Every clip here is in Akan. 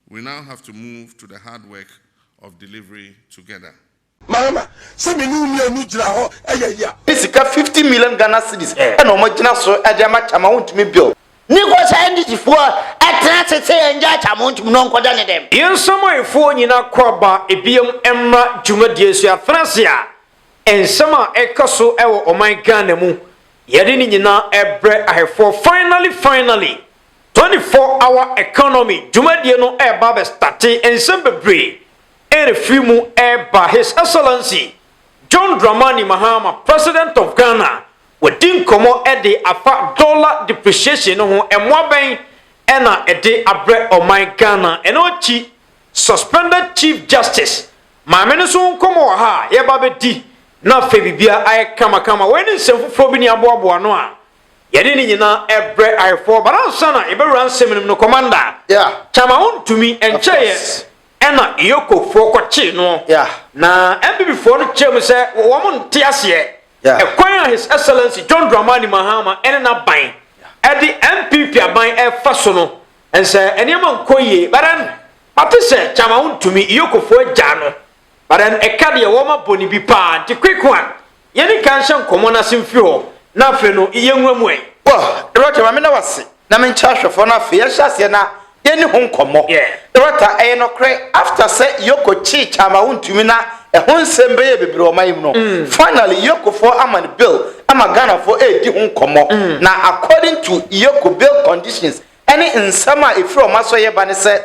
We now have to move to the hard work of delivery together. Mahama, sɛ me ne wo mmienu gyina hɔ yɛ ya. Ne sika fifty million Ghana cedis na ɔmo agyina so de ama Kyama Wontumi Bill. Ne kɔ saa NDC foɔ ɛtena ase sɛ yɛn gyaa Kyama Wontumi na ɔnkɔ da ne dɛm. Yɛn nsamanfoɔ nyinaa kɔ aba ɛbiam mmra dwumadie so yɛatena ase a nsɛm a ɛka so wɔ ɔman Ghana mu yɛde ne nyinaa ɛbrɛ ahɛfoɔ finally finally Twenty four hour economy dwumadie no reba abɛstate nsɛm bebree refiri mu reba His Excellency John Dramani Mahama President of Ghana wadi nkɔmmɔ de afa dollar depreciation no ho mmoa bɛn na ɛde abrɛ ɔman Ghana ɛno akyi Suspended Chief Justice Maame no nso ho nkɔmmɔ wɔ ha a yɛba abɛdi na afei biribiara ayɛ kamakama wei ne nsɛm foforɔ bi ne aboaboa ano a Yɛde ne nyinaa ɛbrɛ ayefɔɔ but ansa na yɛbɛwura nsɛm no mu no commander yeah. kyama wo ntumi ɛnkyɛeɛ ɛna yokofoɔ kɔkyee noɔ yeah. na MPP foɔ no kyerɛ mu sɛ wɔn nte aseɛ yeah. ɛkwan a his excellency John Dramani Mahama ɛne n'aban ɛde MPP aban ɛfa so no ɛnsɛ nneɛma nkɔ yie but then mate sɛ kyama wo ntumi yokofoɔ agya no But then ɛka deɛ wɔma bɔne bi paa nti quick one yɛni kan nhyɛ nkɔmɔ no ase mfiri hɔ na afei no yɛ nwura mu ɛ. Well Dorota ma meda wo ase na me nkyɛ ahwɛfoɔ no afei yɛnhyɛ aseɛ na yɛni ho nkɔmɔ. Yeah. Dorota ɛyɛ nɔkorɛ after sɛ Yoko kyee Kyama wontumi na ɛho nsɛm bɛyɛɛ bebree ɔman yi mu no finally Yokofoɔ ama no bail ama Ghanafoɔ ɛredi ho nkɔmɔ na according to Yoko bail conditions ɛne nsɛm a ɛfiri wɔn asɔeɛ ba ne sɛ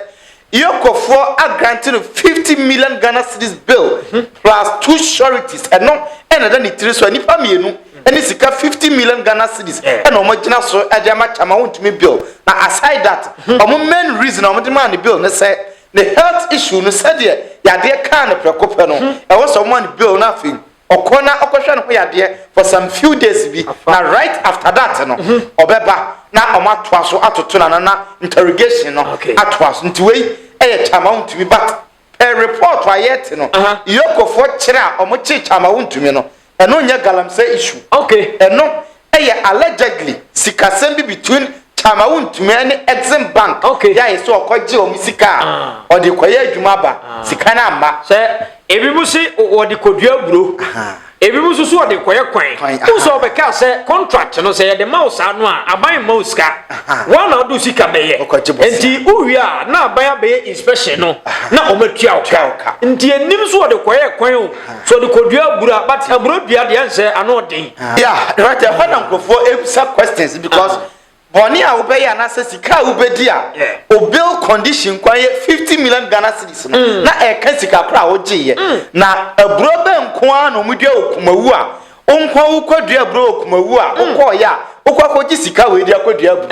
Iokɔfoɔ a grante no 50 million Ghana cedis bill plus two sureties ɛno ɛna ɛda ne tiri so a nnipa mmienu ɛne sika 50 million Ghana cedis ɛna wɔn agyina so ɛde ama kyama wɔntumi bill na aside that wɔn main reason a wɔn de maa ne bill ne sɛ ne health issue no sɛdeɛ yadeɛ kaa no prɛko pɛ no ɛwɔ sɛ wɔn maa ne bill no afei Ɔkɔ na ɔkɔhwɛ no ho yadeɛ for some few days bi na right after that no ɔbɛba na ɔmo atoa so atoto no ano na interrogation no atoa so nti wei yɛ Kyamawuntumi but per report a yɛte no Yokofoɔ kyere a ɔmo kye Kyamawuntumi no ɛno nyɛ Galamsey issue ɛno Ɛyɛ allegedly sikasɛm bi between Chamau Ntumeh ne Exim Bank Okay. yɛ ayɛ sɛ ɔkɔgye wɔn sika a Ah. ɔde rekɔyɛ adwuma aba. Sika no amma. sɛ ebinom se o- wɔde kɔdua aburo Aha. ebinom nso so wɔde kɔyɛ kwan Kwan, aha. wo sɛ wɔbɛkaa sɛ contract no sɛ yɛde ma wo saa no a aban mma wo sika Aha. woa na wode wo sika bɛyɛ Wokɔgye bosia. nti wowie a na aban abɛyɛ inspection no na ɔmatua wo Tua wo ka. ka nti ɛnim so wɔde kɔyɛ kwan o Sɛ ɔde kɔdua abura but aburo dua deɛ nsɛ ano ɔden. Yeah right ɛhɔ na nkurɔfoɔ ebisa questions because uh-huh. bɔnne a wobɛyɛ anaasɛ sika a wobɛdi a obil condition kwan yɛ fifty million Ghana cedis no mm. na ɛka sika koro a wogyeeɛ mm. na aburo bɛ nko ara na wɔdua wɔ kumawu a wonkwa wokɔ dua aburo wɔ kumawu a mm. wokɔɔyɛ a wokɔ akɔgye sika wei de akɔdua aburo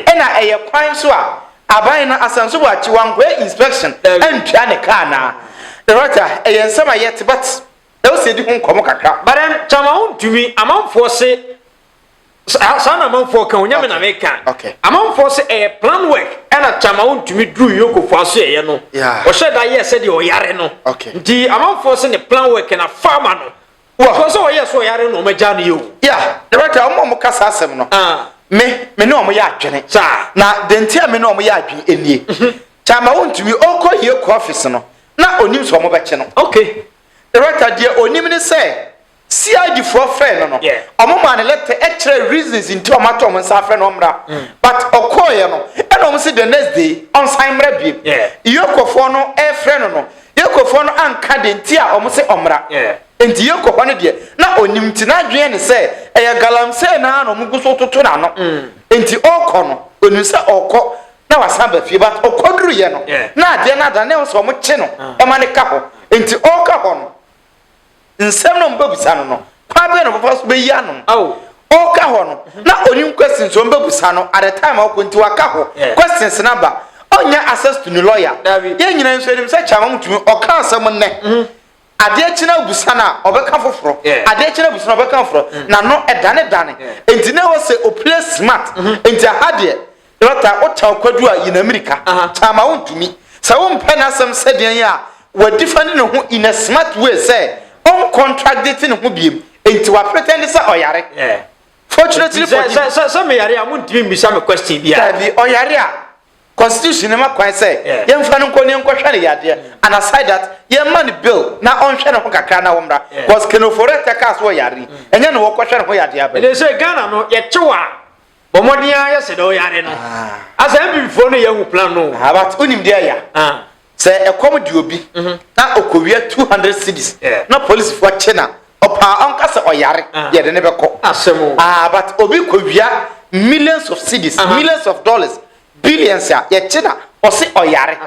ɛna ɛyɛ kwan so a Aban no asan so wɔakyi wɔankɔyɛ inspection antwa ne car anaa? Loretta, Ɛyɛ nsɛm a yɛte but ɛwɔ sɛ yɛdi ho nkɔmmɔ kakra. But ɛn Kyama wontumi, amanfoɔ se saa saa na amanfoɔ ka o, nyɛ me na meka. Okay. Amanfoɔ se ɛyɛ plan work ɛna Kyama wontumi duru Yoko Foasueyɛ no, Yeah. ɔhyɛ da yɛɛ sɛdeɛ ɔyare no. Okay. Nti amanfoɔ se ne plan work na farmer no Wɔ. Because sɛ ɔyɛ sɛ ɔyare na ɔma gyaa no yɛ o. Ya, the right time, ɔmo a ɔmo ka saa asɛm no. Ah. Me, me ne ɔmo yɛ adwene. Saa. Na deɛ nti a me ne ɔmo yɛ adwene enie. Mhm. Kyama ontumi, ɔkɔ hie kɔ office no, na onim sɛ ɔmo bɛkye no. Okay. The right time, deɛ onim ne sɛ, CID foɔ frɛɛ no no, Yeah. ɔmo maa no letter ɛkyerɛɛ reasons nti a ɔmo ato ɔmo nsa afrɛ no ɔmmra. Mm. But ɔkɔɔeɛ no, ɛna ɔmo se the next day, ɔnsan mmra biem. Yeah. Iyokofoɔ no ɛɛfrɛ no no, Yɛkofoɔ no anka deɛ nti a wɔn se ɔmmra, enti Yɛko hɔ no deɛ na ɔnnim, nti n'adwene ne sɛ ɛyɛ galamsee no ara na wɔn gu so retoto n'ano, enti ɔrekɔ no ɔnim sɛ ɔrekɔ na wasan aba fie, but ɔkɔduruiɛ no na adeɛ no adane, na ɛwɔ sɛ wɔn kye no ma no ka hɔ, enti ɔreka hɔ no. nsɛm na wɔbɛbusa no no, kwan bɛn na ɔbɛfa so bɛyi ano? Oh. Ɔka hɔ no, mhm. na onim questions wɔn bɛbusa no at the time a ɔkɔ nti waka hɔ. Questions na ba. Ɔnyɛ access to ne lawyer. Yɛn nyinaa nso anim sɛ kyama mutumi ɔka asɛm nnɛ. Mhm. Adeɛ kyena abusa no a ɔbɛka foforɔ. Adeɛ kyena abusa no ɔbɛka foforɔ. Mm. Na no ɛdane dane. Nti na ɛwɔ sɛ opire smart. Mhm. Nti aha deɛ Lɔta, wo taw kwadu a yi n'amirika, ama wo ntumi. Sɛ wo mpɛ n'asɛm sɛdeɛ yi a, wa defend ne ho in a smart way sɛ ɔn contradite ne ho biem, enti wa pretend sɛ ɔyare. Fortunately for him. Sɛ sɛ me yare a, mo ntumi mmisa me question biara. Dabi, ɔyare a, constitution no ma kwan sɛ yɛn fa no nkɔ ne yɛn kɔ hwɛ ne yadeɛ, and aside that, yɛn mma no bill na ɔn hwɛ ne ho kakra na ɔmmra, cos Ken Ofori-Atta kaa sɛ ɔyare yi, ɛnyɛ na ɔkɔ hwɛ ne ho yadeɛ aba yi. Ɛdeɛ sɛ Ghana no, yɛkyew a, Bɔ mmɔden ara yɛ sɛ dɛ ɔyare no. Ah. Asa MPPfoɔ no yɛ hu plan no. Ah, but wonim deɛ ya. Ah. Sɛ ɛkɔm de obi mhm. na ɔkɔwia 200 cities yeah. na polisifoɔ akye na ɔpaa ɔnka sɛ ɔyare ah. yɛde ne bɛkɔ. Asɛm o. Ah, but obi kɔwia millions of cities, uh -huh. millions of dollars Billions a yɛgye na ɔse ɔyare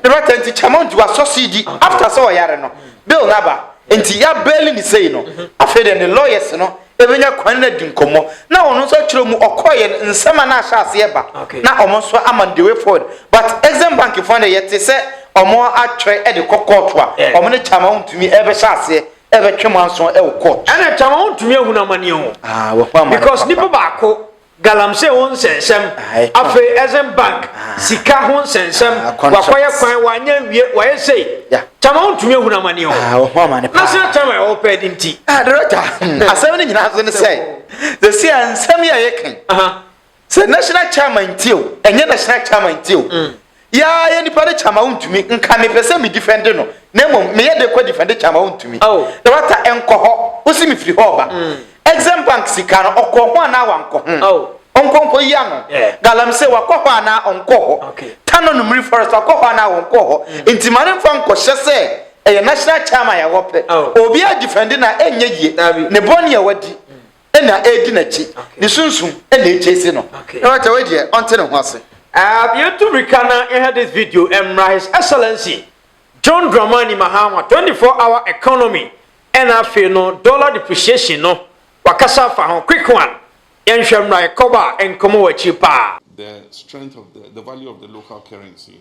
ne rata nti Chairman nti wasɔ CD after sɛ ɔyare no bill no aba nti yɛ baili no sei no afei deɛ ne lawyers no bɛnya kwan no adi nkɔmmɔ na ɔno nso akyerɛ mu ɔkɔeɛ no nsɛm a na ahyɛ aseɛ ba na ɔmo nso ama no the way forward but Exim Bank foɔ no deɛ yɛte sɛ ɔmo atwɛre de kɔ court a ɔmo ne Chairman wontumi bɛhyɛ aseɛ bɛtwe mo anso wɔ court. Ɛna Chairman wontumi ahunu amaneɛ o because nipa baako galamsey ho nsɛnsɛm afei exim bank sika ho nsɛnsɛm wakɔyɛ kwan wanyɛ nwie wayɛ sei kyama wontumi ahunu amane o na sɛ kyama ɛwɔ pɛ de nti director hmm. asɛm no nyinaa so ne sɛ the see nsɛm yɛ yɛ kan sɛ national chairman nti o ɛnyɛ national chairman nti o hmm. Yɛ ara yɛ nipa de kyɛ ama wontumi. Nka mepɛ sɛ me difɛnde no, na mmom meyɛ de kɔ difɛnde kyɛ ama wontumi. Oh. Dɔkta nkɔ hɔ, wosi mefiri hɔ reba. Mm. Exim Bank sika no, ɔkɔ ho anaa wankɔ ho? Oh. Ɔnkɔ nkɔ yi ano. Yeah. Galamsey wakɔ hɔ anaa ɔnkɔ hɔ? Okay. Tano no Mmiri Forest wakɔ hɔ anaa ɔnkɔ hɔ? Mm. Nti ma ne mfa nkɔhyɛ sɛ ɛyɛ national chairman yɛ hɔ pɛ. Oh. Obiara difɛnde na ɛnyɛ yie. Dabi. Ne bɔne a wadi. ɛna ɛdi n'akyi ne sunsum ɛna ɛgye esi no na wata wei deɛ ɔnte ne ho ase. Uh, yɛtu mirika na yɛhɛ this video mmra his excellency John Dramani Mahama 24 hour economy ɛna afei no dollar depreciation no wakasa afa ho quick one yɛnhwɛ mmra yɛkɔba a nkɔmɔ wɔ akyiri paa. The strength of the, the value of the local currency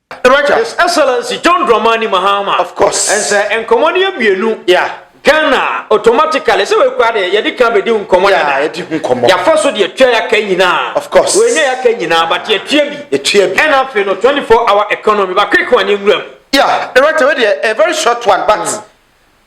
Roger. His Excellency John Dramani Mahama. Of course. And sɛ nkɔmɔ ni abienu. Yeah. Ghana automatically sɛ wei kura deɛ yɛde kan bɛdi nkɔmɔ dada. Yeah, yɛdi nkɔmɔ. Yafa so deɛ tua yaka nyinaa. Of course. Wei nyɛ yaka nyinaa but yɛ tua bi. Yɛ tua bi. Ɛna afei no 24 hour economy ba quick one nwura mu. Yeah, Roger wei deɛ a very short one but. Mm.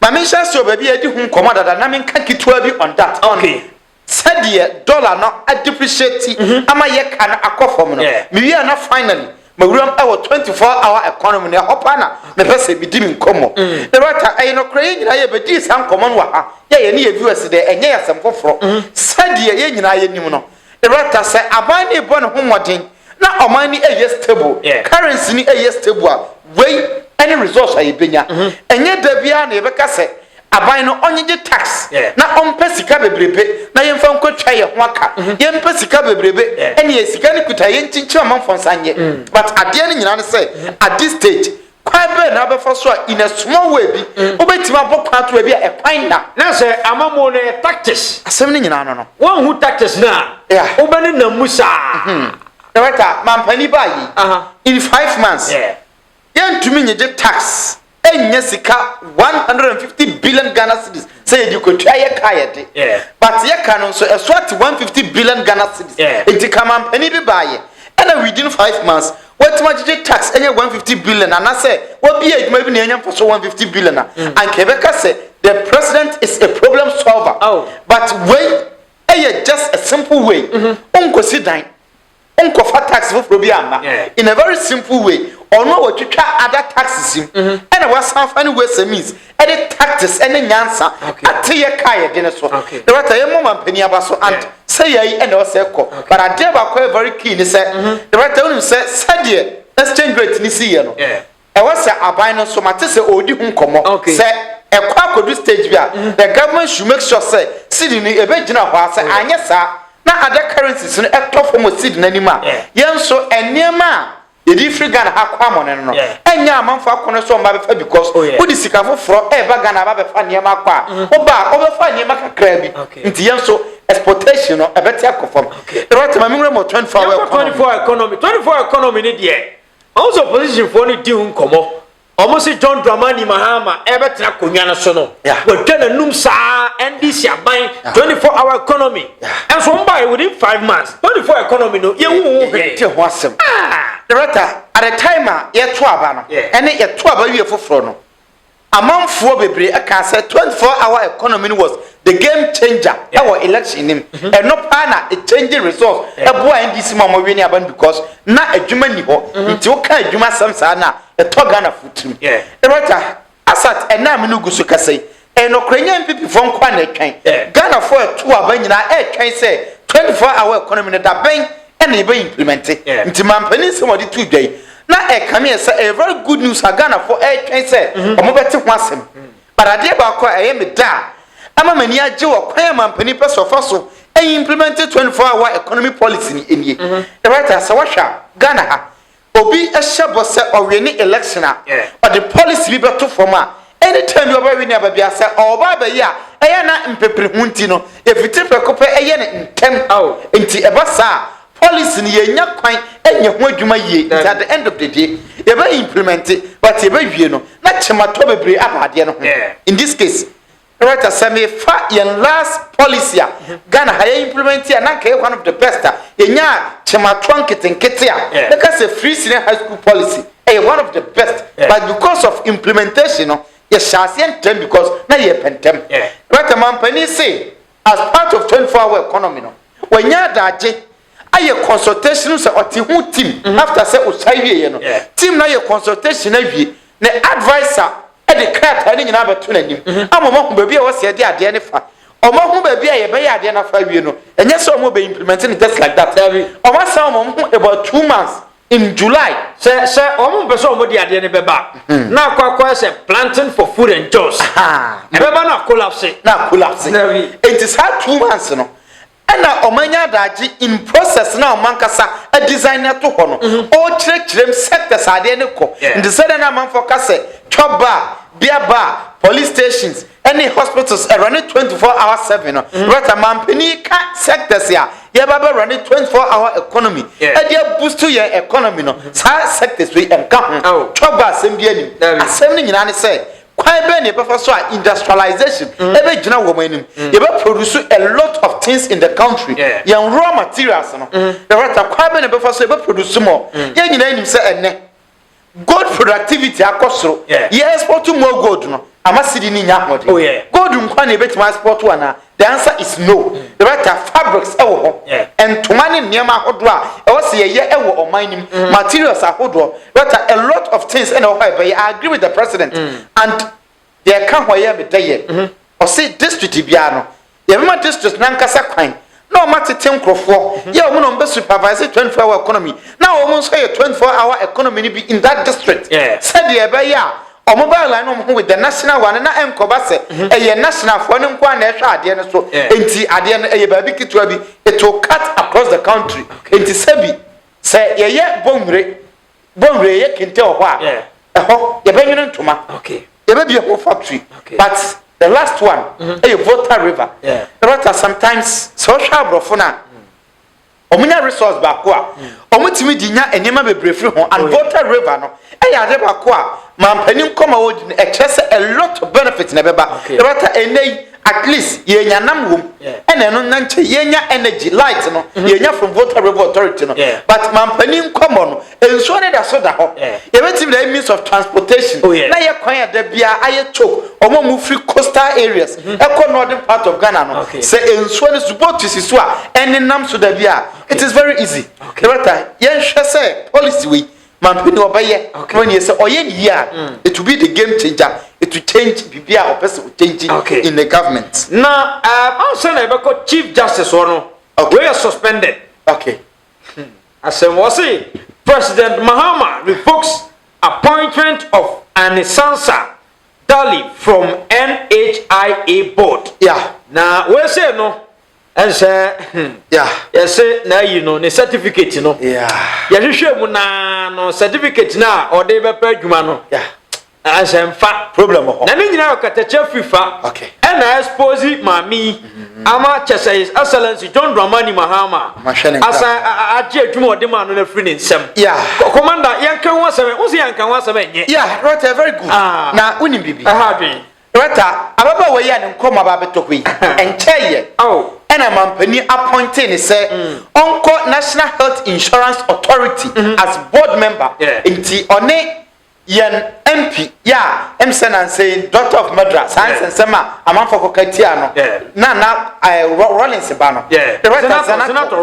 Maame nhyɛ ase o baabi yɛdi ho nkɔmɔ dada na menka ketewa bi on that. Okay. On, sɛdeɛ dollar no a depreciate ama yɛ ka no akɔ fam no me wie a na finally mawuram wɔ 24 hour economy mu na ɛhɔ paa na mepɛ sɛ medi me nkɔmmɔ Loretta ɛyɛ nokorɛ yɛn nyinaa yɛ bɛdii saa nkɔmmɔ no wɔ ha yɛ yɛne yɛ viewers dɛ ɛnyɛ yɛ asɛm foforɔ sɛdeɛ yɛn nyinaa yɛnim no Loretta sɛ aban no rebɔ ne ho mmɔden Na ɔman no ɛyɛ stable, currency no ɛyɛ stable a, wei ɛne resource a yɛbɛnya. Ɛnyɛ da biara na yɛbɛka sɛ aban no ɔnyegye tax na ɔmpɛ sika bebrebe na yɛmfa nkɔtwa yɛn ho aka. Yɛmpɛ sika bebrebe, ɛnneɛ sika no kuta a yɛnkyinkyim amanfoɔ nsa nyɛ. But adeɛ no nyinaa ne sɛ, at this stage, Kwan bɛn na wobɛfa so a in a small way bi wobɛtumi abɔ kwan ato baabi a ɛkwan nna? Na sɛ amammuo no yɛ tactics. Asɛm no nyinaa no no. Woanhu tactics no a, Yeah. wobɛnenam mu saa. Director, mampanin baa yei Aha. in five months. Yeah. Yɛntumi nnyegye tax nnya sika one hundred and fifty billion Ghana cedis sɛ yɛde kwatua yɛ ka yɛ de but yɛ ka no nso ɛso ate 150 billion Ghana cedis nti kamampanin bi baayɛ ɛna within five months wɔatumi agyegye tax ɛnyɛ 150 billion anasɛ wɔbie adwuma bi na ɛnya mfa so 150 billion a mm. anka ɛbɛka sɛ the president is a problem solver oh. but wei ɛyɛ just a simple way mm-hmm. ɔnkɔsi dan nkɔfa tax foforɔ bi amma in a very simple way ɔno a wɔtwitwa ada taxes mu mm-hmm. ɛna wasan fa ne ways and means ɛde tactics ɛne nyansa ateyɛ kaa yɛde ne so na wata yɛ mɔ mampanin aba so and sɛ yɛyi ɛna ɔsɛ kɔ but adeɛ baako yɛ very key ne sɛ na wata wonim sɛ sɛdeɛ exchange rate ne si yɛ no Ɛwɔ sɛ aban no nso mate sɛ ɔredi ho nkɔmmɔ. Sɛ ɛkɔ akɔdu stage bi a, the government should make sure sɛ cedi no ɛbɛgyina hɔ ara, sɛ anyɛ saa na other currencies no tɔ fam wɔ cedi no anim a, yɛn nso nneɛma a yɛde firi Ghana ha kɔ amɔne no no, ɛnyɛ amanfoɔ akɔnnɔ sɛ wɔmma bɛfa because wode sika foforɔ reba Ghana aba abɛfa nneɛma akɔ a, woba a, wobɛfa nneɛma kakraa bi. Nti yɛn nso exportation no ɛbɛte akɔ fam. Rotimi, me nwura mu wɔ 24 hour economy. Yɛnkɔ 24 hour economy, 24 hour economy no deɛ, Ɔnso oppositionfoɔ no redi ho nkɔmmɔ, wɔn se John Dramani Mahama rebɛtena akonnwa no so no, wɔatwa n'anum saa ara, NDC aban, 24 hour economy, nso wɔn baeɛ within five months, 24 economy no yɛnhu ho hwee. Yɛnte ho asɛm. Ah! Director, at the time a yɛto aba no, ɛne yɛto aba wie foforɔ no, Amanfoɔ bebree kaa sɛ 24 hour economy no was the game changer yeah. ɛwɔ election nim mm -hmm. ɛno paa na it change results yeah. ɛboa ndc ma ɔmo wini aban because na adwuma ni hɔ mm -hmm. nti woka adwuma asɛm saa na ɛtɔ ghana fo tirim yeah. erɔta asat ɛnaa mi no gu so kasa yi ɛnɔkora nyɛ npp fo nkoa na ɛtwɛn yeah. ghana fo ɛto aba nyinaa ɛtwɛn sɛ 24 hour economy no da bɛn ɛna yɛbɛ implemɛnte nti mampanin nsɛm ɔde tu dwa yi na ɛkame yɛ sɛ ɛyɛ very good news a ghanafoɔ ɛretwɛn sɛ mhm. wɔn bɛte ho asɛm but adeɛ baako a ɛyɛ me da a ɛma m'ani agye wɔ kwan a mampanin pɛ so ɔfa so ɛyɛ implemente 24 hour economy policy ni nie ɛwɔ ta sɛ wɔhwɛ a ghana ha Obi hyɛ bɔ sɛ ɔwene election a, ɔde policy bi bɛto fam a, any time bi ɔbɛwene aba bia, sɛ ɔba abɛyɛ a, ɛyɛ a na mpepreho nti no, yɛfitiri prɛko pɛ yɛ no ntɛm. Nti ɛba saa a, policy no yɛnnya kwan nyɛ ho adwuma yie, nti at the end of the day, yɛbɛ implementi, but yɛbɛwie no, na kyematɔ bebree aba adeɛ no ho, in this case. Director sɛ me fa yɛn last policy a Ghana ha yɛ implement a na nka yɛ one of the best a yɛnyaa kyɛmatoa nketenkete a mɛka sɛ free senior high school policy ɛyɛ one of the best but because of implementation no yɛhyɛ aseɛ ntɛm because na yɛ pɛ ntɛm Director mampanin se as part of 24 hour economy no wɔanya adagye ayɛ consultation no sɛ ɔte ho team mm-hmm. after sɛ ɔsae wieɛ no team no ayɛ consultation awie na advisor de krataa no nyinaa bɛto n'anim mm-hmm. ama ɔmahu baabi a ɛwɔ sɛ ɛde adeɛ no fa ɔmahu baabi a yɛbɛyɛ adeɛ no afa awie no ɛnyɛ sɛ ɔmo bɛ implement no just like that ɔmo asan ɔmo ho about two months in july. sɛ sɛ wɔn mpɛ sɛ wɔn de adeɛ no bɛba. Hmm. na akɔ akɔ sɛ planting for food and jobs. ɛbɛba na collapse. na collapse. nti saa two months no Ɛna ɔmo anya adagye in process na ɔmo ankasa adesign no ɛto hɔ no. Ɔɔkyerɛkyerɛ mu sectors a adeɛ no kɔ. Nti sɛdeɛ na amanfoɔ ka sɛ chop bar, beer bar, police stations ɛne hospitals ɛrɔne 24 hour 7 no, Roberta manpanin yi ka sectors a yɛɛba abɛ rɔne 24 hour economy ɛde a boost yɛn economy no saa sectors wei ɛnka ho. Chop bar asɛm biaa nnim. Asɛm no nyinaa ne sɛ Kwan bɛn na yɛbɛfa so a industrialization bɛgyina wɔn anim? Yɛbɛproduce a lot of things in the country. Yɛn raw materials no, yɛbɛta kwan bɛn na yɛbɛfa so a yɛbɛproduce more? Yɛn nyinaa nim sɛ ɛnnɛ, gold productivity akɔ soro. Yɛ export more gold no, ama cedi no nya ahoɔden. Gold nkwa na yɛbɛtumi export anaa? The answer is no. Yɛbɛta fabrics wɔ hɔ, ntoma ne nneɛma ahodoɔ a ɛwɔ sɛ yɛyɛ wɔ ɔman no mu, materials ahodoɔ. Yɛbɛta a lot of things na ɛwɔ hɔ a yɛbɛyɛ. I agree with the president and deɛ ɛka ho a ɛyɛ me dɛ yɛ, ɔse district biara no yɛbɛma district no ankasa kwan na wɔn atete nkorɔfoɔ, yɛ wɔn na wɔn bɛ supervise 24 hour economy na wɔn nso ayɛ 24 hour economy no bi in that district sɛdeɛ ɛbɛyɛ a Ɔmo baa line no ɔmo ho with the national one na ɛnkɔba sɛ ɛyɛ national foɔ no nkoaa na ɛhwɛ adeɛ no so nti adeɛ no ɛyɛ baabi ketewa bi it will cut across the country nti sɛbi sɛ yɛyɛ Bonwire Bonwire yɛyɛ kente wɔ hɔ a ɛhɔ yɛbɛnwene ntoma yɛbɛbie ho factory but the last one ɛyɛ Volta River na wata sometimes sɛ ɔhwɛ aborɔfo no a wɔn nya resource baako a wɔn tumi di nya nneɛma bebree firi ho and water river no ɛyɛ ade baako a mampanin nkɔmɔ wɔ di no ɛkyerɛ sɛ a lot of benefit na ɛbɛba ɛbɛta ɛnɛ yi at least yɛn nya nam wɔm ɛna ɛno na nkyɛn yɛn nya energy light no yɛn nya from water river authority no but mampanin nkɔmɔ no Nsuo no da so da hɔ. Yɛbɛtumi de means of transportation oh, na yɛ kwan a da biara ayɛ choke wɔn a wɔfiri coastal areas mm. ɛkɔ northern part of Ghana no sɛ nsuo no so boat si so a ɛnenam so da biara it is very easy. Yɛbɛta yɛnhwɛ sɛ policy wei mampini ɔbɛyɛ wɔn yɛ sɛ ɔyɛ ne yie a mm. it will be the game changer it will change biribi a ɔpɛ sɛ o change in the government. Na ɛɛ eh, ansa na ɛbɛkɔ chief justice wɔ no wei yɛ suspended. Okay. Asɛm wɔse President Mahama revokes appointment of Anisansa Dali from NHIA board. Yeah. Na weesei no ɛnsɛ Yeah. yɛse na ayi no ne certificate no. Yeah. Yɛhwehwɛ mu naa no certificate no a ɔde bɛpɛ adwuma no Yeah. Ansɛ nfa. Problem wɔ hɔ. Na ne nyinaa yɛ ɔkatakyɛ firi fa. Okay. Ɛna expose maame yi mm-hmm. ama kyɛ sɛ His Excellency John Dramani Mahama asan agye adwuma ɔde maa no no afiri ne nsam. Yeah. Commander yɛnka ho asɛm ɛ wosi yɛnka ho asɛm ɛnyɛ. Yeah, Rɔta very good. Ah. Na wonim biribi. Ɛha adwene. Rɔta ababaawa yi a ne nkɔm aba abɛtɔ hɔ yi ɛnkyɛ yɛ. Oh. Ɛna mampanin appointee ne sɛ mm. ɔnkɔ National Health Insurance Authority mm-hmm. as board member. Nti ɔne yɛn mp yɛ a ɛm sɛ nansɛn doctor of madra saa nsɛnsɛm a amanfoɔ kɔka tia no na na eh, rollins ba no zanato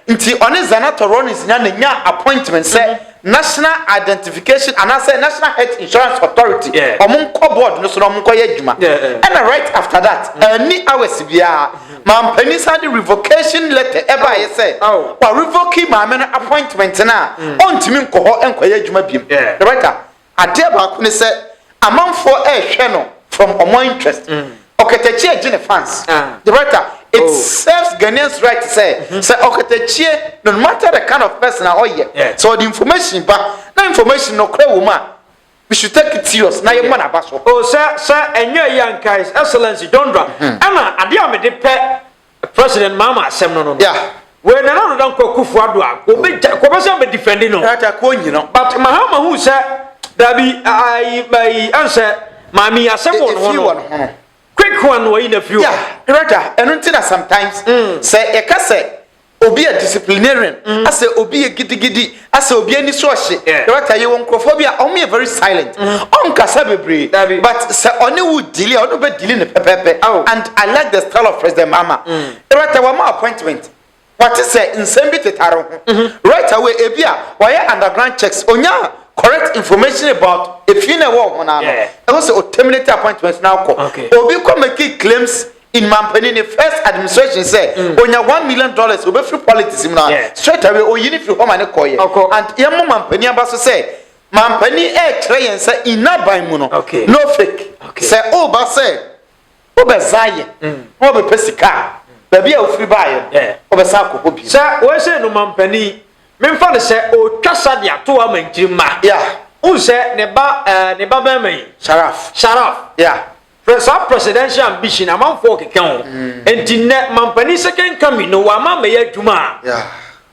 nti ɔne zanato rollins nya ne nya appointment sɛ mm-hmm. national identification anaasɛ national health insurance authority ɔmo nkɔ board no so na ɔmo nkɔ yɛ adwuma ɛna right after that ɛni mm-hmm. hours biara Mampanin san de revocation letter ɛbaeɛ sɛ warevoke maame no appointment no a ɔntumi nkɔ hɔ nkɔyɛ adwuma biom. Roberta, adeɛ baako ne sɛ amanfoɔ rehwɛ no from ɔmo interest. Ɔkatakyie gye ne fans. Roberta, it serves Ghanaians right sɛ sɛ ɔkatakyie no matter the kind of person a ɔyɛ, sɛ ɔde information ba na information nokorɛ wɔ mu a, Misu Turkey Tios na yɛmmɔ n'aba so. Oh sɛ sɛ ɛnyɛ eyi anka His Excellency John Dra ɛna adeɛ a mede pɛ President Mahama asɛm no no no. Yeah. Wei Nana Ado Dankwa Akuffo Addo a wɔbɛgya wɔbɛsan bɛ defend no. Ɛta kɔ nyi no. But Mahama hu sɛ dabi ayi ayi ɛnsɛ Maame yi asɛm wɔ ne ho no. Quick one no wayi na firi hɔ. Yeah, Director ɛno nti na sometimes sɛ yɛka sɛ Obi yɛ disciplinarian, asɛ obi yɛ gidigidi, asɛ obi ani so ɔhye. Director, yɛwɔ nkurɔfoɔ bi a wɔyɛ very silent. Ɔnkasa bebree, but sɛ ɔne wo deali a, ɔne wo bɛ deali no pɛpɛɛpɛ. And I like the style of President Mahama. Director, wama wo appointment, wate sɛ nsɛm bi tetare wo ho. Right away, ebi a, wayɛ underground checks, onya correct information about efie no a ɛwɔ wo ho no ara no, ɛho sɛ o terminate appointment no ara kɔ. Obi kɔ make claims in mampanin ne first administration sɛ mm. onya one million dollars obɛfiri politics mu na straight away oyi ne firi hɔ ma ne kɔɔyɛ and yɛmmɔ mampanin aba so sɛ mampanin ɛrekyerɛ yɛn sɛ nnaban mu no no fake sɛ woba sɛ wobɛza yɛ mm. na wɔbɛpɛ sika a baabi a wofiri baayɛ wobɛsa akɔ hɔ bi sɛ wɔhyɛ no mampanin memfa no sɛ ɔtwa sa de ato ama nkyiri mma wohu sɛ ne ba eh, ne ba bɛrima yi sharaf sharaf yeah Hwɛ saa presidential ambition amanfoɔ keka ho. Enti nnɛ mampanin second coming no wɔama amɛyɛ adwuma a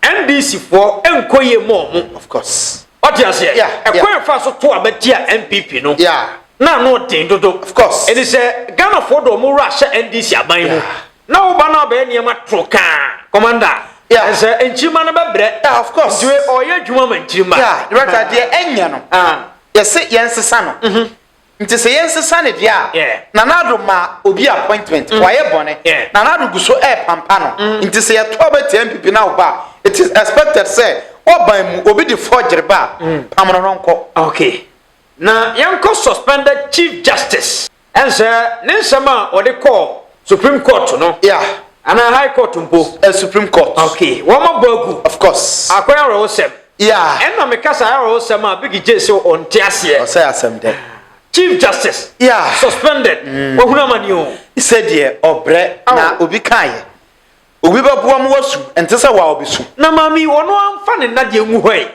NDC foɔ nkɔ yie ma ɔmo. Of course. Wate aseɛ? Yeah, yeah. Ɛkwan a ɛfa so to aba tia NPP no. Yeah. Na ano den dodo. Of course. Ɛni sɛ Ghanafoɔ de ɔmo wura ahyɛ NDC aban mu. Yeah. Na wo ba no abɛyɛ nneɛma toro kaa. Commander. Yeah. And sɛ nkyirima no bɛbrɛ. Yeah, of course. Nti ɔyɛ adwuma ma nkyirima. Yeah. Rata deɛ ɛnyɛ no. Ah. Yɛse yɛnsesa no. Mm-hmm. Nti sɛ yɛnsesa ne deɛ a, Nana Addo ma obi appointment, wayɛ bɔne. Nana Addo gu so repampa no. Mm. Nti sɛ yɛto aba tia NPP na woba a, it is expected sɛ woaban mu obi de forgery ba a, mm. pam no no nkɔ. Okay. Na yɛnkɔ suspended Chief Justice. Ɛnsɛ ne nsɛm a ɔde kɔɔ Supreme court no. Yeah. Ana high court mpo. Uh, supreme court. Okay. Wɔn abɔ agu. Of course. Akɔyɛ awerɛhosɛm. Yeah. Ɛna meka saa awerɛhosɛm a Biggie J sɛ ɔnte aseɛ. Ɔsɛ asɛm dɛ. Chief Justice. Yeah. Suspended. Mm. Wɔhunu amani o. Sɛ deɛ ɔbrɛ na obi kaeɛ. Obi bɛboa mu wasu ɛnte sɛ wa obi su. Na maame ɔno amfa ne nna deɛ ngu hɔ yi.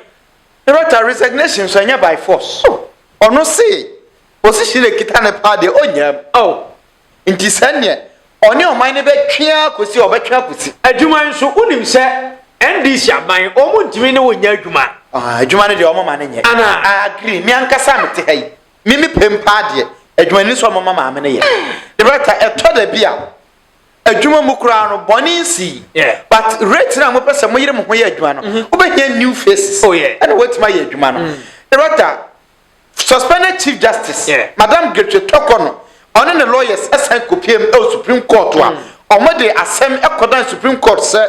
Rota resignation so ɛnyɛ by force. Oh. Ɔno se position ekita ne paa deɛ ɔnyam. Oh. Nti sɛ neɛ ɔne ɔman no bɛtwe ara kɔsi a ɔbɛtwe akɔsi. Adwuma nso, wonim sɛ NDC aban, wɔn ntumi ne wo nyɛ adwuma. Ah, adwuma no deɛ wɔn ma no nyɛ. Anaa? I agree, me ankasa a mete ha yi, me me pɛ mu paa deɛ, adwuma no ni sɛ wɔn ma maame no yɛ. Director, ɛtɔ da bi a, adwuma mu koraa no, bɔne nsii. Yeah. But rate no a mopɛ sɛ moyere mo ho yɛ adwuma no, mm-hmm. wobɛhia new faces. Oh yeah. Ɛna wɔatumi ayɛ adwuma no. Mm. Director, Suspended Chief Justice Madam Gertrude Torkornoo no ɔne ne lawyers san kopiam wɔ Supreme Court a wɔde asɛm kɔdan Supreme Court sɛ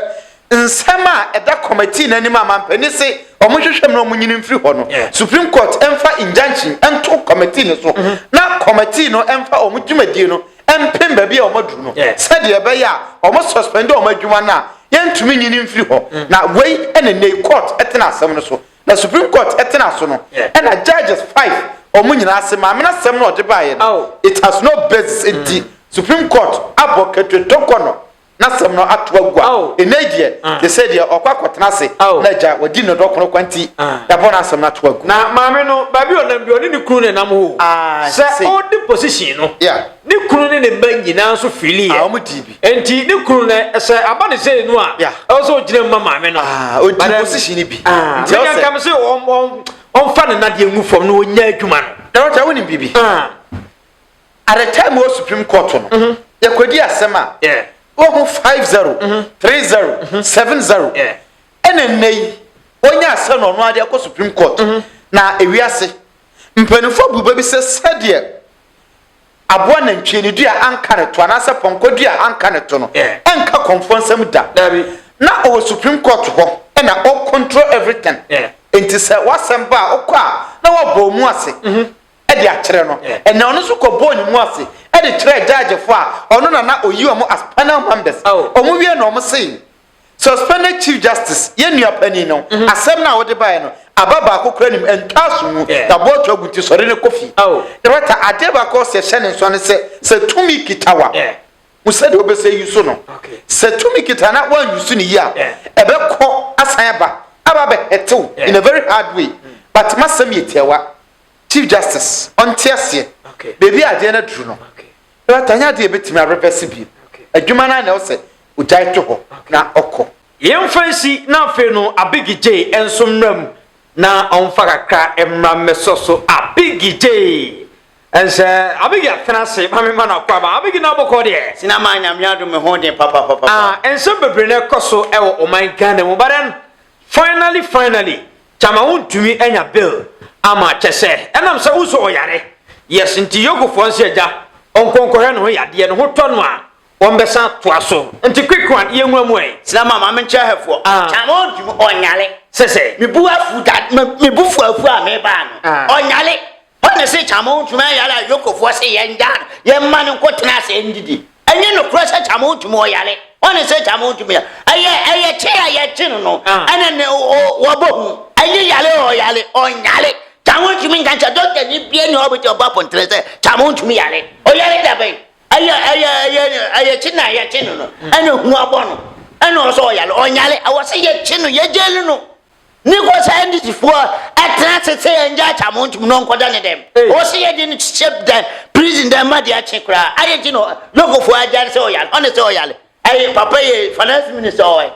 nsɛm a ɛda Kɔmɛtee no anim a mampanin se wɔnhwehwɛ mu na wɔnyini mfiri hɔ no Supreme Court mfa injunction nto Kɔmɛtee no so na Kɔmɛtee no mfa wɔn dwumadie no mpem baabi a wɔaduru no sɛdeɛ ɛbɛyɛ a wɔn suspende wɔn adwuma no a yɛntumi nyini mfiri hɔ na wei ne nnɛyi Court tena asɛm no so Na supreme court tena so no ɛna judges five ɔmo nyinaa se maame no asɛm no ɔde baeɛ no it has no basis nti supreme court abɔ Ketre Donkor no n'asɛm no ato agu a enei deɛ te se deɛ ɔkɔ akɔtena ase na agya wadi no dɔ kono kwa nti yabɔ n'asɛm no ato agu. Na maame no baabi ɔnam biara ɔne ne kunu na ɛnam hoo sɛ ɔde position no. Ne kunu ne ne mma nyinaa nso fili yɛ. Wɔn di bi. Nti ne kunu no sɛ aba ne sɛ enu a. Ɛwɔ sɛ ogyina mu ma maame no. Odi position ni bi. Nti ɔsɛ. Nka mi sɛ wɔn wɔn wɔnfa ne nadeɛ ngu fam na wɔnya adwuma no. Na wɔn ti awo ni bi bi. At the time wɔ supreme court no. Mhm. Yɛ kɔ di asɛm a. Yɛ. Wɔ ho five zero. Mhm. Three zero. Mhm. Seven zero. Yɛ. Ɛna nnɛ yi wɔn nyɛ asɛm na ɔno adeɛ kɔ supreme court. Mhm. Na ewiase mpanimfoɔ bu bɛ bi sɛ sɛdeɛ. aboa nantwie no dua anka ne to anaasɛ pɔnkɔ dua anka ne to no ɛnka kɔmfoɔ nsɛm da na ɔwɔ supreme court hɔ ɛna ɔ control everything nti sɛ wasɛm ba a ɔkɔ a na wabɔ mu ase mhm. ɛde akyerɛ no ɛna ɔno nso kɔbɔɔ ne mu ase ɛde kyerɛ judgefoɔ a ɔno na na ɔyi ɔmo as panel members ɔmo wie na ɔmo sei Suspended Chief Justice, yɛn nua panin no, asɛm no a wode baeɛ no, aba baako koraa nim, ɛntaa so mu, na boɔ to agu nti sɔre na kɔ fie. Director, adeɛ baako a ɔsɛ ɛhyɛ ne nsoa ne sɛ, sɛ tumi kita wo a, hu sɛdeɛ wobɛsɛ use no. Sɛ tumi kita na woan use no yie a, ɛbɛkɔ asan aba, aba abɛ hurt wo in a very hard way. But m'asɛm yɛ tiawa, Chief Justice ɔnte aseɛ baabi a adeɛ no aduru no. Director, ɛnyɛ adeɛ a yɛbɛtumi a reverse bio. Adwuma no ara na ɛwɔ sɛ Ogyae to hɔ na ɔkɔ. Yɛmfa nsi na afei no Abiggy Jay nso mmra mu na ɔmfa kakra mmra mmɛsɔ so Abiggy Jay nhyɛ Abiggy atena ase ma memma no akwan ma Abiggy na abɔkɔ deɛ. Sina maa Nyame adom me ho den papapapapa. Ah nsɛm bebree na ɛkɔ so wɔ ɔman Ghana mu but then finally finally Kyama wontumi anya bail ama kyɛsɛ ɛnam sɛ wosɔ ɔyare yes nti Yogofoɔ nse agya ɔnkɔ nkɔhwɛ ne ho yadeɛ ne ho tɔ no a Wɔn bɛsan toa so. Nti quick one yɛ nwura mu ɛ. Sena ma maame nkyɛ hɛ foɔ. Kya ma ɔndi mu ɔnyale. Sɛ sɛ. Me bu afu da me bu fu afu a me baa no ɔnyale. Hɔ na se kya ma ɔntu mu ɛyale a yoko foɔ se yɛ ngyaa no yɛ mma no nko tena ase ndi di. Ɛnyɛ nokorɛ sɛ kya ma ɔntu mu ɔyale. Hɔ na se kya ma ɔntu mu ya ɛyɛ ɛyɛ kye a yɛ kye no no ɛna ne ɔ wɔ bɔ hu. Ɛnyɛ yale o ɔyale ɔnyale. Kya ma ɔntu mu nka nkyɛ doctor ni bia ni hɔ a ɔbɛtumi abɔ apontere sɛ kya ma ɔntu mu yale. Ɔyale da bɛn? Ɛyɛ ɛyɛ ɛyɛ ɛyɛ kye na ɛyɛ kye no no ɛna hu abɔ no ɛna ɔsɛ ɔyale ɔnyale ɛwɔ sɛ yɛ kye no yɛ gyeli no ne kɔ sɛ ndc foɔ ɛtena se sɛ yɛn gya akya mo ntum no nkɔda ne dɛm ɔwɔ sɛ yɛ de no kyekyɛ dɛ prison dɛm ma de akye koraa ayɛ kye no lɔko foɔ agya no sɛ ɔyale ɔne sɛ ɔyale ɛyɛ papa yɛ finance minister ɔyɛ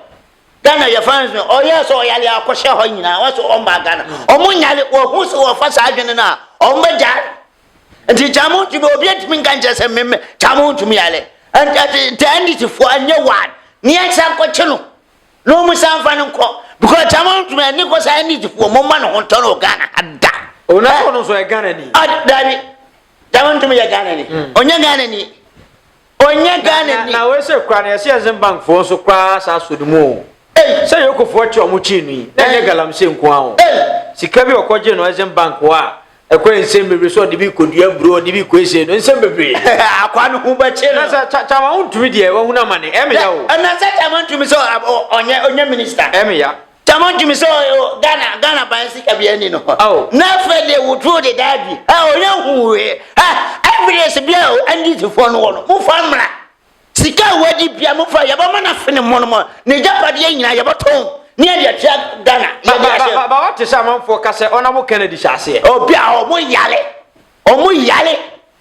Ghana yɛ finance minister ɔyɛ sɛ ɔyale akɔhyɛ hɔ nyinaa wɔsɛ ɔmba Ghana ɔmo nyale wɔhu sɛ wɔfa saa adwene no a ɔmo bɛgya nti kya mo ntumi obi ntumi nka nkyɛ sɛ mmemme kya mo ntumi yale nti ndc foɔ ɛnyɛ wan ne yɛn nsa nkɔkye no na wɔn san fa no nkɔ because kya mo ntumi ɛne kɔ sɛ ndc foɔ mo mma ne ho ntɔ no ghana ada. onafɔ no nso yɛ ghana ni. dabi kya mo ntumi yɛ ghana ni ɔnyɛ ghana ni. Ɔnyɛ Ghana ni. Na wei sɛ koraa no yɛse Exim bank foɔ nso koraa saa so no mu oo. Sɛ Yoko foɔ kye ɔmo kye no yi na ɛnyɛ galamsey nko ara oo. Sika bi a ɔkɔ gye no Exim bank hɔ a ɛkɔ nsɛm bebree sɛ ɔde bi kɔ dua aburo ɔde bi kɔ ese no nsɛm bebree. Akwaa no ho bɛkye no. Na sɛ Tama wontumi deɛ wahunu amane ɛmeya oo. Ɛna sɛ Tama ntumi sɛ ɔnyɛ ɔnyɛ minister. Ɛmeya. Tamo ntumi sɛ ɔyɛ Ghana Ghana ban sika bi ani no hɔ. Oh. Na afei deɛ wotoo de daa bi. Ɛ ɔyɛ huwee. Ɛ evidence bi a NDCfoɔ no wɔ no mofa mmra. Sika a wadi bia mofa yɛbɛma no afe ne mmɔ no mɔ. Ne gyapadeɛ nyinaa yɛbɛtɔn ne yɛde atua Ghana. Ba ba ba ba wɔte sɛ amanfoɔ ka sɛ ɔna mo Kennedy hyɛ aseɛ. Obi a ɔmo yale ɔmo yale.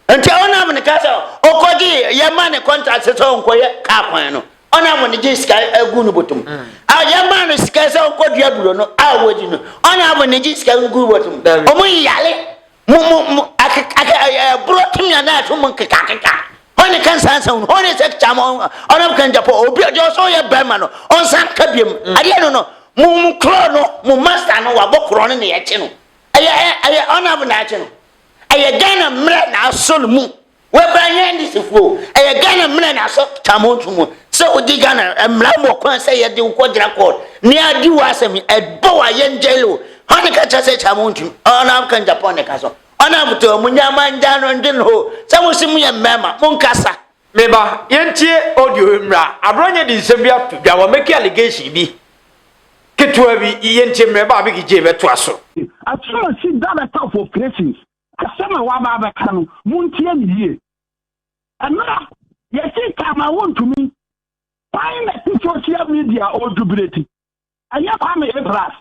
Nti ɔnam ne ka sɛ ɔkɔgye yɛ ma ne kɔntrakt sɛ ɔnkɔyɛ kaa kwan no ɔnam ne gye sika agu no bɔtɔm a yɛ ma no sika sɛ ɔnkɔ dua buro no a wɔdi no ɔnam ne gye sika ngu bɔtɔm ɔmo yale mo mo mo ɛburo timiya na ɛto mo nkeka keka hɔ ne kansa nsa hunu hɔ ne sɛ kya mo ɔnam kan japɔ obi ɔdi ɔsɔ yɛ bɛrima no ɔnsan ka biam adeɛ no no mo mo korɔ no mo masta no wabɔ korɔ no na yɛkye no ɛyɛ ɛyɛ ɔnam na yɛkye no ɛyɛ ghana mmerɛ na asɔ no mu wɔbra nyɛ ndisifoɔ o ɛyɛ ghana mmerɛ na asɔ tamonto mu sɛ wogye ghana mmara mu ɔkwan sɛ yɛde wo kɔgyina kɔɔt ne adi wɔ asɛm yi ɛbɔ wɔ ayɛ ngyɛle o hɔ ne ka kyerɛ sɛ tamonto ɔna amka japan ne ka so ɔna motɔ mu nyama ngya no ndwen ho sɛ mo se mo yɛ mmarima mo nkasa Me ba, yɛntie audio yi mmra. Aberanyɛ de nsɛm bi ato dwa, wamake allegation bi ketewa bi. Yɛntie mmra, ɛba a Becky J bɛtoa so. Akyiri a ɔsi Director of Operations, asɛm a waba abɛka no, montie no yie. Ɛmmra, yɛse Kama wontumi, kwan na ɛte social media ɔredwo berɛ ti. ɛnyɛ kwame abras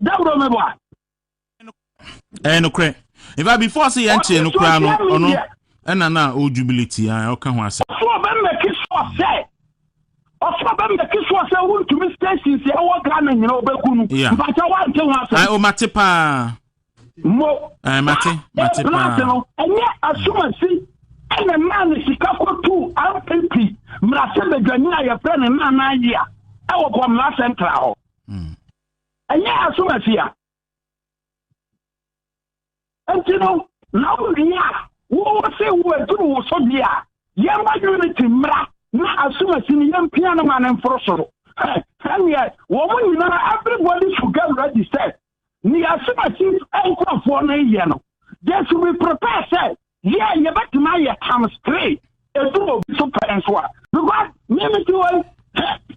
dawuro mi wa. ɛyɛ nokorɛ nfa before sɛ yɛn kyerɛ no koraa no ɔno ɛna na o jubility a ah, ɔka ho asɛm. ɔsɛ ɔbɛ mɛki soɔ sɛ ɔsɛ ɔbɛ mɛki soɔ sɛ wontumi stations ɛwɔ ghana nyina ɔbɛku no mpakyɛ wante ho asɛm. o mate paa. mo eh, mate mate paa no ɛnyɛ asomasi ɛna maa ne sika kɔtu mpp mmerase badwani a yɛfrɛ no nana yi a ɛwɔ bɔmmara central hɔ hmm. ɛnyɛ asomasi a nti no na wowie a wowɔ sɛ woaduru wo so deɛ a yɛmma unity mmara na asomasi no yɛmpia no ma no mforo soro ɛneɛ wɔn nyinaa everybody should get ready sɛ Nea Asubasis nkurɔfoɔ no yɛ no, they should be prepared sɛ yɛ yɛbɛtumi ayɛ times three ɛdu obi so pɛ nso a because meme ti wɔ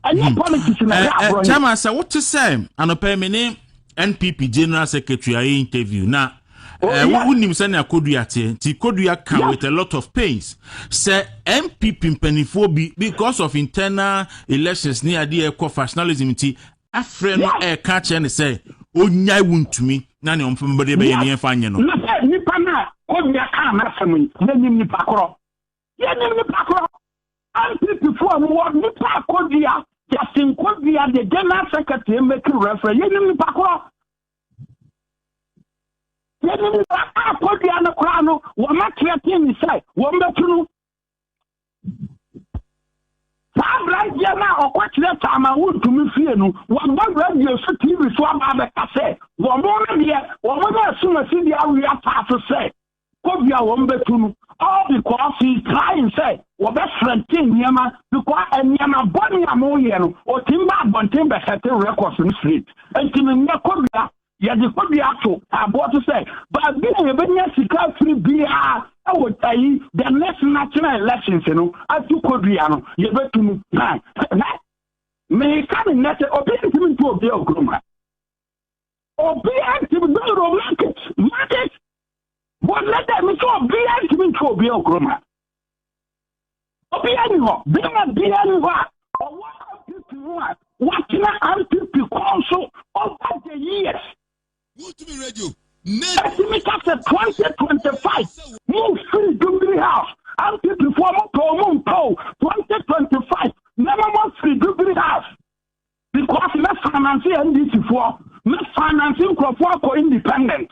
ɛnyɛ hmm. politics na ɛyɛ aborɔ yi. Kyɛma sɛ wote sɛ anɔpɛ me ne NPP general secretary ayɛ interview na oh, eh, wonim sɛnea kodua teɛ nti kodua ka with a lot of pains sɛ npp mpanimfoɔ bi because of internal elections ne adeɛ ɛkɔ factionalism nti afrɛ no ɛka akyerɛ no sɛ ɔnyae wo ntumi na ne ɔmpɛmbɔde bɛyɛ ne yɛmfa nyɛ no. Na sɛ nipa no a kɔnnua kaa n'asɛm yi, yɛnim nipa korɔ. Yɛnim nipa korɔ. NPP foɔ a ɔmo wɔ nipa a kɔdua, Justin Kɔdua the general secretary mmɛki referee, yɛnim nipa korɔ. Yɛnim nipa a kɔdua no koraa no, wɔn atrɛtee ne sɛ wɔn bɛtu no Saa aberanteɛ no a ɔkɔkyerɛ saa ma wontumi fie no, wɔba radio so TV so aba abɛka sɛ wɔn no deɛ wɔn a ɛsom asidi awe ataa so sɛ kobi a wɔn bɛtu no all because he is trying sɛ wɔbɛfrɛnte nneɛma because nneɛma bɔne a moyɛ no ɔtim ba abɔnten bɛsɛte records no straight nti menyɛ kobi a Yɛde kɔdua ato aboɔ so sɛ baabi a yɛbɛnya sika afiri biara wɔ ayi the next national elections no ato kɔdua no yɛbɛtu mu na na meka ne nnɛ sɛ obiara ntumi ntu obiara okurom ha obiara ntumi dɔrɔ market market wɔnnɛ dɛ me sɛ obiara ntumi ntu obiara okurom ha Obiara ni hɔ, bɛrima biara ni hɔ a ɔwɔ MPP ho a watena MPP kɔn so over the years. Ɛtumi ka sɛ 2025 mo firi Jubilee House, MPP foɔ mo pɛ o mo mpɛ o 2025 mɛma mo afiri Jubilee House because mɛ finance NDC foɔ, mɛ finance nkurɔfoɔ akɔ independent.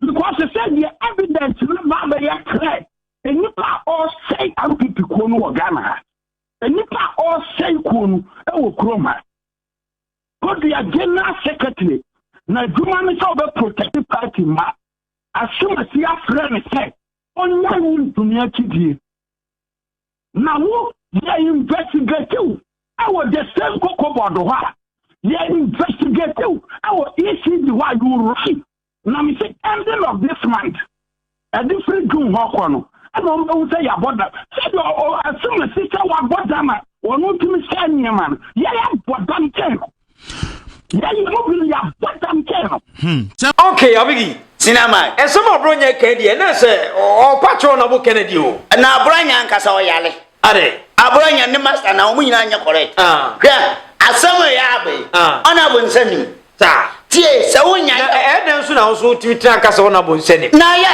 because they said the evidence no ba bɛyɛ clear nnipa a ɔresɛe npp kuo no wɔ ghana ha nnipa a ɔresɛe kuo no wɔ kurom ha kodua general secretary na adwuma no sɛ ɔbɛ protect party ma asomasi afrɛ no sɛ ɔnya yi ntumi akyidie Na wo yɛ investigative ɛwɔ the same koko board hɔ a yɛ investigative ɛwɔ ECD hɔ a you right na me se ending of this month ɛde firi June hɔ kɔ no ɛna wɔn bɛhu sɛ yɛabɔ da sɛdeɛ ɔ ɛsɛm ɛsi sɛ wɔabɔ da ma wɔn ntumi sɛ nneɛma no yɛyɛ abɔ dam kyɛn no. yɛyɛ mu bi no yɛabɔ dam kyɛn no hmm, okay abigi sina ma ɛsɛm aborɔ nyɛ kɛn deɛ na sɛ ɔpa kyerɛ ɔna bo kɛnɛ deɛ o na aborɔ nyɛ ankasa ɔyale ade aborɔ nyɛ ne masta na wɔn nyinaa nyɛ correct ah. hwɛ asɛm yɛ abɛ ah. ɔna bo nsa nim tie sɛ wonya ɛdɛn so na wo so wotumi tena ka sɛ wona bo nsa nim na yɛ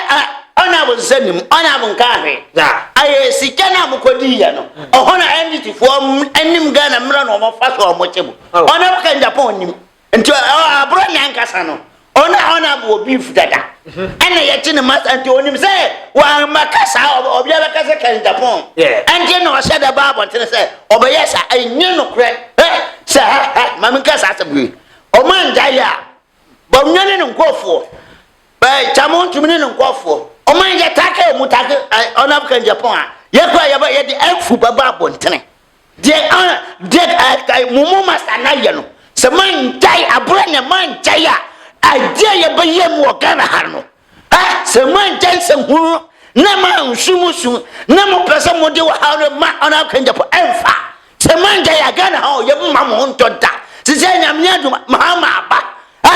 Ɔna mo nsa nim, ɔna mo nka hwee. Ayɛ sika na mo kɔ di yɛ no. Ɔhɔ na NDC foɔ nim Ghana mmra na ɔmo fa so ɔmo kye mo. Ɔna mo kan Japan nim. Nti aborɔ ni ankasa no. Ɔna ɔna bo wɔ beef dada. Ɛna yɛ kye ne masa nti ɔnim sɛ wɔ ma ka saa ɔbia bɛ ka sɛ kan Japan. Ɛnti na ɔhyɛ da ba abɔntene sɛ ɔbɛ yɛ saa. Ɛnyɛ nokorɛ. Sɛ ha ha ma me nka saa asɛm wei. Ɔmo angya yɛ a Bam nyɛ ne ne nkurɔfoɔ. Bɛɛ Kyamo ntumi ne ne nkurɔfoɔ. Ɔman yɛ take ɔmo take ɔnam kan Japan a yɛ kura yɛ ba yɛ de afu bɛba abɔntene. Deɛ ɔn deɛ ɛɛ mumu masa na yɛ no sɛ man gyae abura na man gyae a adeɛ yɛ bɛyɛ mu wɔ Ghana ha no. A Sɛ moankyɛ nsɛm hunu na moanhwe mo su na mopɛ sɛ mode ɔhaw no ma ɔno akwannya po ɛmfa. Sɛ moangyae a Ghana ha o yɛbɛma mo ho ntɔ da. Sesei Nyame adom a Mahama aba a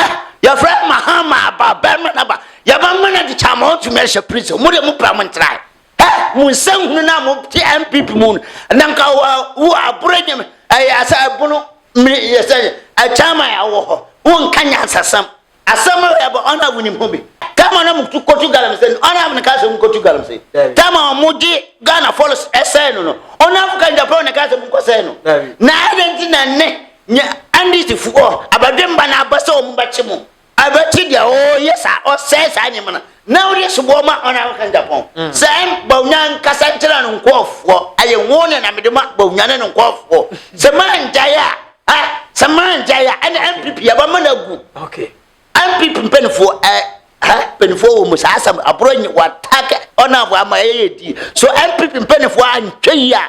yɛfrɛ no Mahama aba bɛrima no aba yɛbɛma no ade kyaa mo ho tumi ahyɛ prison mo deɛ mopɛ a montrae. Ɛ mo nsɛm hunu no a mote NPP mu no na nka wo aboro nyame ɛyɛ asɛ ɛbono mmiri yɛ sɛ ɛkyɛn ma yɛawɔ hɔ wonka nyansasɛm. Asɛm a yɛbɔ ɔno a wonim ho bi. Tam a na mo tu kɔtu galamsey no, ɔno a na kaa sɛ mo kɔtu galamsey. Tam a wɔn gye Ghana Falls sɛe no no, ɔno a African Japan na kaa sɛ mo kɔ sɛe no. Na adɛn nti na ɛnɛ nyɛ Andes foɔ abadwemba na aba sɛ wɔn bɛkye mo? Abɛkye deɛ ɔyɛ saa ɔsɛe saa nneɛma no na ɔde soboɔ ma ɔno a African Japan. Sɛ ɛm Bawumia nkasa nkyerɛ no nkɔɔfoɔ, ɛyɛ wɔn na mede ma Bawumia ne no nkɔɔfoɔ. Sɛ moangyae a. Ah, sɛ mangyae a ɛna npp yɛbɛma no agu okay npp mpanimfoɔ ɛɛ ha mpanimfoɔ wɔ mu saa asɛm aborɔ nyi wɔatak ɔnafo ama ɛyɛ yɛ di so npp mpanimfoɔ antwa yi a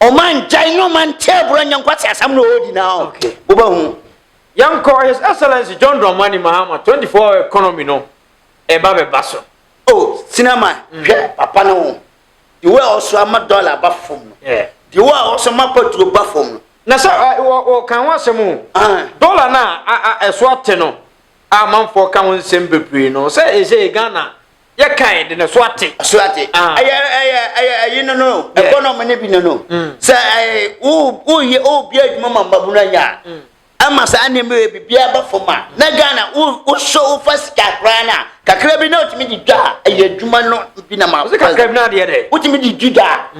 ɔma ngyae ne ɔma nte aborɔ nyɛ nkwasi asɛm na ɔredi na ɔ wobɛhu yɛnkɔ his excellence john dramani mahama 24 economy no ɛba bɛba so o oh, sinama mm. hwɛ papa no ho deɛ wɔ a ɔso ama dɔla ba fam no deɛ wɔ a ɔso ma patuo ba fam no Na sɛ ɛ, wɔ, wɔka ho asɛm o, Ae. dɔla no a, a, a ɛso ate no a amanfoɔ ka ho nsɛm bebree no, sɛ ɛsɛ Ghana yɛkae de na ɛso ate. Ɛso ate. Ah. Ɛyɛ, ɛyɛ, ɛyɛ ɛyi no no, Yeah. ɛkɔnɔm no bi no no. Mm. Sɛ ɛɛ, wo, woyɛ, wobie adwuma ma mmabunu anya a, Mm. ɛma saa nneɛma yɛ biribiara ba fam a, na Ghana, wo, wosɔ, wofa sika koraa no a, kakra bi na wotumi de dwa a, ɛyɛ adwuma no bi na ma. Ɔse kakra bi na adeɛ dɛ. Wotumi de dwi dwa a,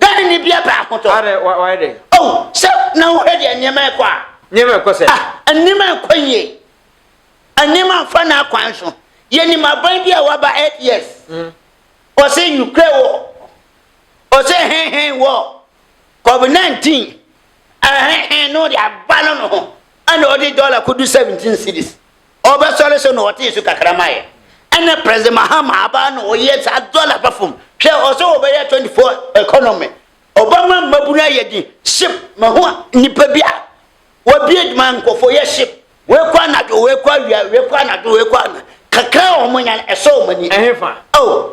Dɛn ne ne bia bɛ ahotɔ? Adɛn, wa, wayɛ dɛn? Oh, sɛ na wohwɛ deɛ nneɛma rekɔ a. Nneɛma rekɔ sɛn? Ah, nneɛma nkɔ yie. Nneɛma nfa n'akwan so. Yɛnim aban bi a waba eight years. Mm. Ɔsɛ Ukraine wɔ. Ɔsɛ hɛnhɛn wɔ. COVID-19. Ɛhɛnhɛn no de aba no no ho. Ɛna ɔde dɔla kɔdu 17 cities. Ɔbɛsɔre so na ɔtee su kakra ma yɛ ɛna president Mahama abaa na ɔyɛ saa dollar ba fam hwɛ ɔsɛ ɔbɛyɛ 24 economy ɔbɛma mmabunu ayɛ din ship mahu nipa bi a wabie ma nkɔfo yɛ ship wei kɔ anadwo wei kɔ awia wei kɔ anadwo wei kɔ ana kakra a wɔn nya ɛsɔ wɔn ani ɛhefa oh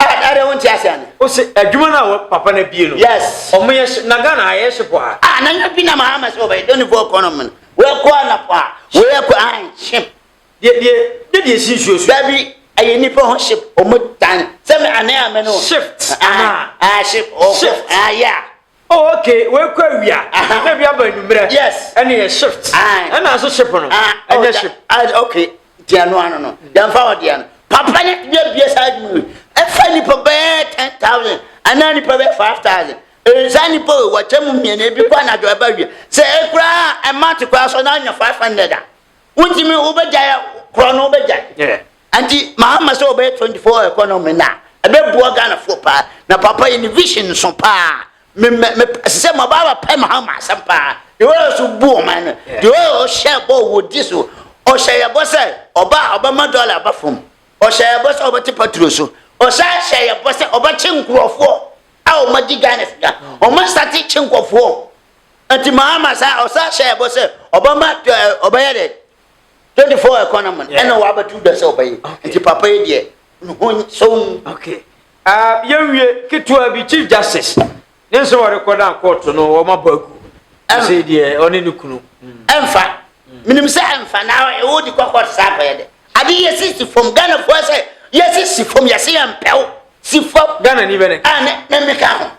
Ah, na de wo nti ase ane. O se adwuma no a papa na bie no. Yes. Ɔmo yɛ hye na Ghana ha yɛ hye po a. Ah, na nya bi na mahama se ɔbɛyɛ dɔni fo ɔkɔ no mene. Wei kɔ a na po a. Wei yɛ kɔ an ship. Deɛ deɛ deɛ deɛ si nsuo so. Dabi ɛyɛ nipa ho ship ɔmo tan sɛ me ane a me no. Shift ana. Ah, ah ship ɔkɔ. Shift. Ah, yeah. Oh okay wei kɔ awia uh-huh. na bi aba anwummerɛ yes ɛne yɛ shift ɛna nso ship no ah, oh, ɛnyɛ ship ah, okay deɛ no ano no yɛmfa wɔ deɛ no papa ne deɛ bie saa adwuma yi ɛfa nipa bɛyɛ ten thousand anaa nipa bɛyɛ five thousand ɛnsa nipa o wɔkyɛ mu mmienu ebi kɔ anadwo ɛba wie sɛ ɛkoraa ɛma te koraa so na anya five hundred a wontumi wobɛgya korɔ no wobɛgya Ɛnti mahama sɛ ɔbɛyɛ 24 economy no a ɛbɛboa Ghanafoɔ paa na papa yi ne vision nso paa me me me ɛsɛ sɛ maba abɛpɛ mahama asɛm paa deɛ ɔyɛ so bu ɔman no deɛ ɔyɛ ɔhyɛ bɔ wɔ di so ɔhyɛ yɛ bɔ sɛ ɔba a ɔbɛma dɔla aba fam ɔhyɛ yɛ bɔ sɛ ɔbɛte patro so ɔhyɛ hyɛ yɛ bɔ sɛ ɔbɛkye nkurɔfoɔ a ɔmadi Ghana sika ɔma sate kye nkurɔfoɔ nti mahama saa ɔsa hyɛ yɛ bɔ sɛ ɔbɛma ɔbɛyɛ dɛ twenty four ɛkɔ na mɔn ɛna wa abɛtu dɛ sɛ ɔbɛyɛ nti papa yi deɛ nuhu sɔn. okay uh, yɛn wie ketewa bi chief justice ne nsɛm a ɔrekɔ dan kɔɔto no wɔn abɔ agu ɛsɛ deɛ ɔne ne kunu. ɛnfa minimu sɛ ɛnfa na ɛwɔ di kɔ kɔɔto saa akɔyɛ dɛ ade yɛ si si fam ghana fo ɛsɛ yɛ si si fam yɛ si yɛ mpɛw si fam. ghana ni bɛ ne ka. a ne ne mi ka ho.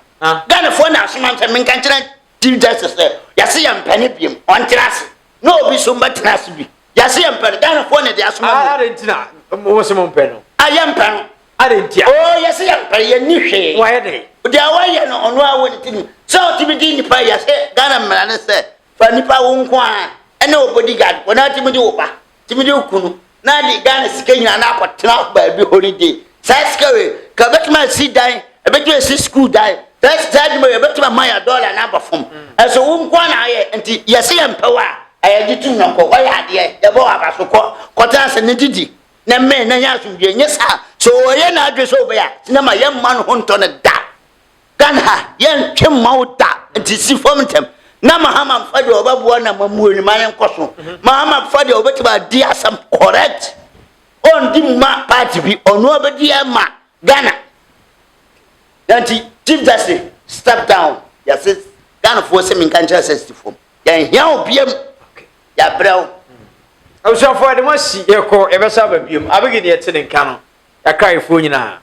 ghana fo na asoma nsɛm mi nka nkyɛn. Chief Justice sɛ yɛse yɛmpɛ no biom, ɔntra ase na obi nso mmɛtena ase bi. Yɛse yɛmpɛ no, Ghanafoɔ na ɛde asoma mu. Adɛn nti na mose mompɛ no? A yɛmpɛ no. Adɛn nti a? Oo yɛse yɛmpɛ, yɛnni hwee. Wayɛ dɛn? Deɛ wayɛ no ɔno ara wɔ ne tirim sɛ ɔtumi di nnipa, yɛse Ghana mmara ne sɛ fa nnipa wo nko ara ne wo bodyguard, wɔn ara tumi di wo ba. tumi de ku no na de ghana sika nyinaa na akɔtena baabi holiday saa sika wei ka ɛbɛtumi asi dan ɛbɛtumi asi sukuu dan saa saa adwuma wei ɛbɛtumi ama yɛ dɔla na aba fam ɛso wo nko na ayɛ nti yɛsɛ yɛ mpɛ wɔ a ɛyɛ gye tum nɔnkɔ wɔyɛ adeɛ yɛbɔ wɔ aba so kɔ kɔtena ase ne didi na mmɛn na nyɛ asomdwie nyɛ saa so wɔyɛ n'adwe sɛ ɔbɛyɛ a sinama yɛmma no ho ntɔ no da Ghana ha yɛntwe mma wo da nti si fam ntɛm na mahama mfa deɛ ɔbɛboa na mamuo ne ma yɛnkɔ so mahama mfa deɛ ɔbɛtumi adi asɛm correct ɔndi mma party bi ɔno ɔbɛdi ama Ghana nanti Chief Justice step down yɛse Ghanafoɔ sɛ menka nkyerɛ sɛ si fam yɛnhia wo biam yɛabrɛ wo abusuafoɔ ɛde mo asi yɛkɔ yɛbɛsa aba biam abɛgi deɛ ɛte ne nka no yɛakraefoɔ nyinaa